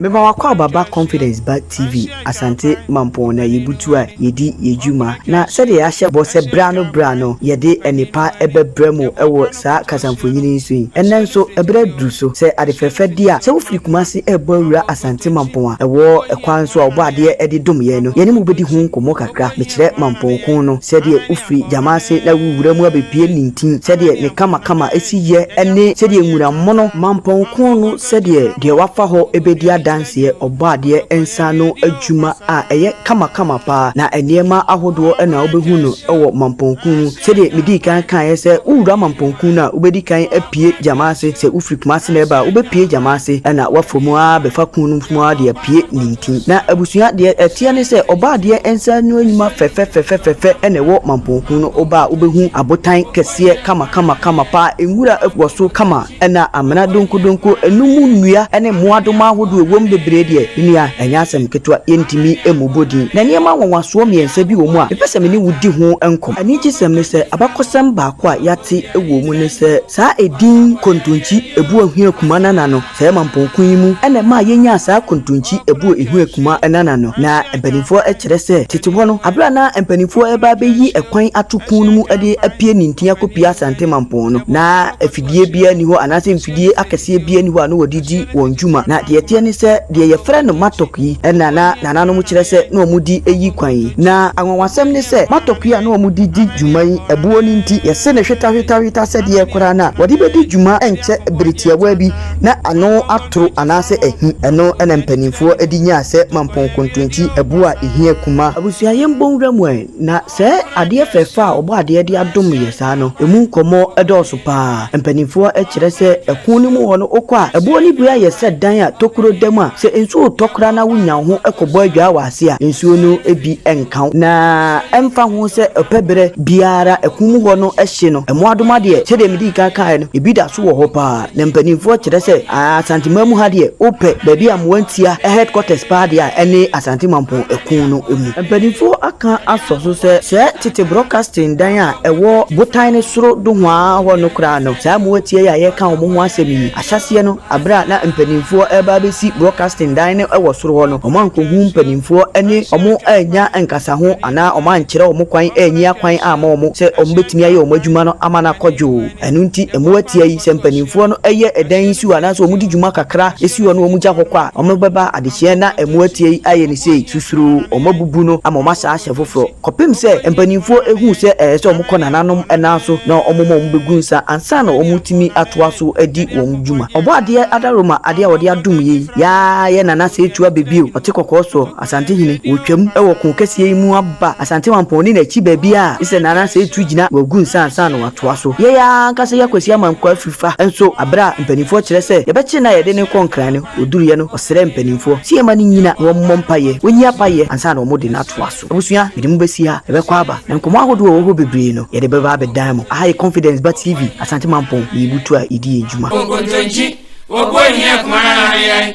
Mema w'akwaaba ba Confidence ba TV Asante Mampong na yebutu a yedi yɛn dwuma na sɛdeɛ yɛahyɛ bɔ sɛ berɛ ano berɛ ano yɛde nnepa bɛbrɛ mo wɔ saa kasamfonin yi so yi. Ɛnnɛ nso berɛ aduru so sɛ ade fɛfɛ deɛ a sɛ wofiri Kumasi rebɔ awura Asante Mampong a ɛwɔ kwan so a wɔbɔ adeɛ de dom yɛn no yɛne mo bɛdi ho nkɔmmɔ kakra. Mekyerɛ Mampong ko no sɛdeɛ wofiri gyama ase na wowura mu abɛpue nintin sɛdeɛ ne kamakama si yɛ ne sɛdeɛ nwura mono Mampong ko no Sɛdeɛ deɛ wafa hɔ bɛdi adanseɛ Ɔbɔadeɛ nsa ano adwuma a ɛyɛ kamakama pa ara, na nneɛma ahodoɔ na wobɛhu no wɔ Mampɔn Kun mu. Sɛdeɛ medii kan kaeɛ sɛ wowura Mampɔn Kun no a, wobɛdi kan apue gyama ase, sɛ wofiri Kumase na ɛreba a, wobɛpue gyama ase na woafa mu ara bɛfa kun no mu ara de apue nintin. Na abusua, deɛ ɛteɛ ne sɛ Ɔbɔadeɛ nsa ano adwuma fɛfɛfɛfɛfɛfɛ na ɛwɔ Mampɔn Kun no, woba a wobɛhu abotan kɛseɛ kamakamakama pa ara, nwura wɔ so kama, Ɛna amena donkudonku, ɛno mu nnua ne mmoadoma ahodoɔ a ɛwom bebree deɛ, me nua, ɛnyɛ asɛm ketewa, yɛntumi mmobɔ din. Na nneɛma nwanwasoɔ mmiɛnsa bi wɔ mu a, mepɛ sɛ me ne wo di ho nkɔmmɔ. Anigyesɛm ne sɛ, abakɔsɛm baako a yɛate wɔ mu ne sɛ, saa edin Kontonkyi Ebuo-Ahuekuma Nana no, saa Emampong ko yi mu na ɛmaa yɛnyaa saa Kontonkyi Ebuo-Ahuekuma Nana no. Na mpanimfoɔ kyerɛ sɛ, tete hɔ no, berɛ a na mpanimfoɔ reba abɛyi kwan ato ko no mu de apue nintin akɔpue Asante Mampong no, na mfidie biara nni hɔ anaasɛ mfidie akɛseɛ biara nni hɔ a na wɔde di wɔn dwuma. Na deɛ ɛteɛ ne sɛ, deɛ wɔfrɛ no mattock yi na na nananom kyerɛ sɛ na wɔde yi kwan yi. Na anwanwasɛm ne sɛ, mattock yi a na wɔde di dwuma yi, ɛboɔ no nti, yɛse no hwetahwetahweta sɛdeɛ koraa no a wɔde bɛdi dwuma nkyɛ bere tiawaa bi na ano atoro anaasɛ ahi. Ɛno na mpanimfoɔ de nyaa sɛ mampɔn kontonkyi, ɛboɔ a ɛhia kuma. Abusua, yɛmmɔ nwura mu ɛ, na Sɛɛ adeɛ fɛɛfɛ a ɔbɔ adeɛ de adom yɛ saa no, ɛmu nkɔmmɔ dɔɔso pa ara. Mpanimfoɔ kyerɛ sɛ ɛko no mu hɔ no, wokɔ a, ɛboɔ no bi ayɛ sɛ dan a tokuro da mu a, sɛ nsuo retɔ koraa no a, wonya wo ho kɔbɔ adwaa wɔ ase a, nsuo no bi nka wo. Na ɛmfa ho sɛ ɔpɛ berɛ biara ɛko mu hɔ no hye no, mmoadoma deɛ, sɛdeɛ medii kan kaeɛ no, ebi da so wɔ hɔ pa ara. Na mpaninfoɔ kyerɛ sɛ Asante man mu ha deɛ wopɛ baabi a mmoa ntia headquarters paa deɛ a ɛne Asante Mampɔn ɛkun no mu. Mpaninfoɔ aka asɔ so sɛ sɛɛ tete broadcasting dan a ɛwɔ botan no soro dohoaa hɔ no koraa no saa mmoa tia yi a yɛreka wɔn ho asɛm yi ahyɛseɛ no aberɛ a na mpaninfoɔ ɛreba abɛsi broadcasting dan no ɛwɔ soro hɔ no wɔn ankohu mpaninfoɔ ɛne wɔn annya nkasa ho anaa wɔn ankyerɛ wɔn kwan anyi akwan amma wɔn sɛ wɔn bɛtumi ayɛ wɔn adwuma no ama no akɔ dwoo. Ɛno nti mmoa tia yi, sɛ mpanimfoɔ no yɛ ɛdan yi si hɔ anaasɛ wɔde dwuma kakra si hɔ na wɔgya hɔ kɔ a, wɔbɛba adehyeɛ na mmoa tia yi ayɛ no sei, susuro, wɔabubu no ama wɔasan ahyɛ foforɔ kɔpem sɛ mpanimfoɔ hunu sɛ ɛyɛ sɛ wɔkɔ nananom nan so na wɔma wɔbɛgu nsa ansa na wɔatumi atoa so adi wɔn dwuma. Ɔbɔadeɛ Adaroma adeɛ a wɔde adom yi, Yaa yɛ Nana Setua Bebio, ɔte kɔkɔɔ soɔ. Asantehene, wɔretwam wɔ ko kɛseɛ yi mu aba Asantewampɔn ne n'akyi baabiara a Mr Nanansah retu gyina wɔagu nsa ansa na wɔatoa so. Yɛn ara ankasa yɛ Kwasi Amankwah afirifa nso berɛ a mpanimfoɔ kyerɛ sɛ yɛbɛkyere no a yɛde no rekɔ Nkran no, ɔduruiɛ no ɔsrɛɛ mpanimfoɔ sɛ yɛmma no nnyina na wɔmmɔ mpaeɛ, wɔnyi apaeɛ ansa na wɔde no atoa so. Abusua, mede mo bɛsi ha, yɛbɛkɔ aba na nkɔmmɔ ahodoɔ a ɛwɔ hɔ bebree no yɛde bɛba abɛdan mo. Aha yɛ Confidence Ba TV, Asante Mampɔn, yɛyɛ butuo a yɛdi yɛn dwuma. Nkontonkyi, Obuo Hia Kumanana no yɛn.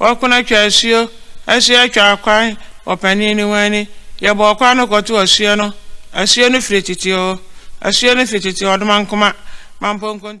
Wɔko no twaa asuo, asuo twaa kwan, ɔpanin no ho ani, yɛbɔɔ kwan no kɔto asuo no, asuo no firi tete oo, asuo no firi tete ɔdomankoma, mampɔnkontu.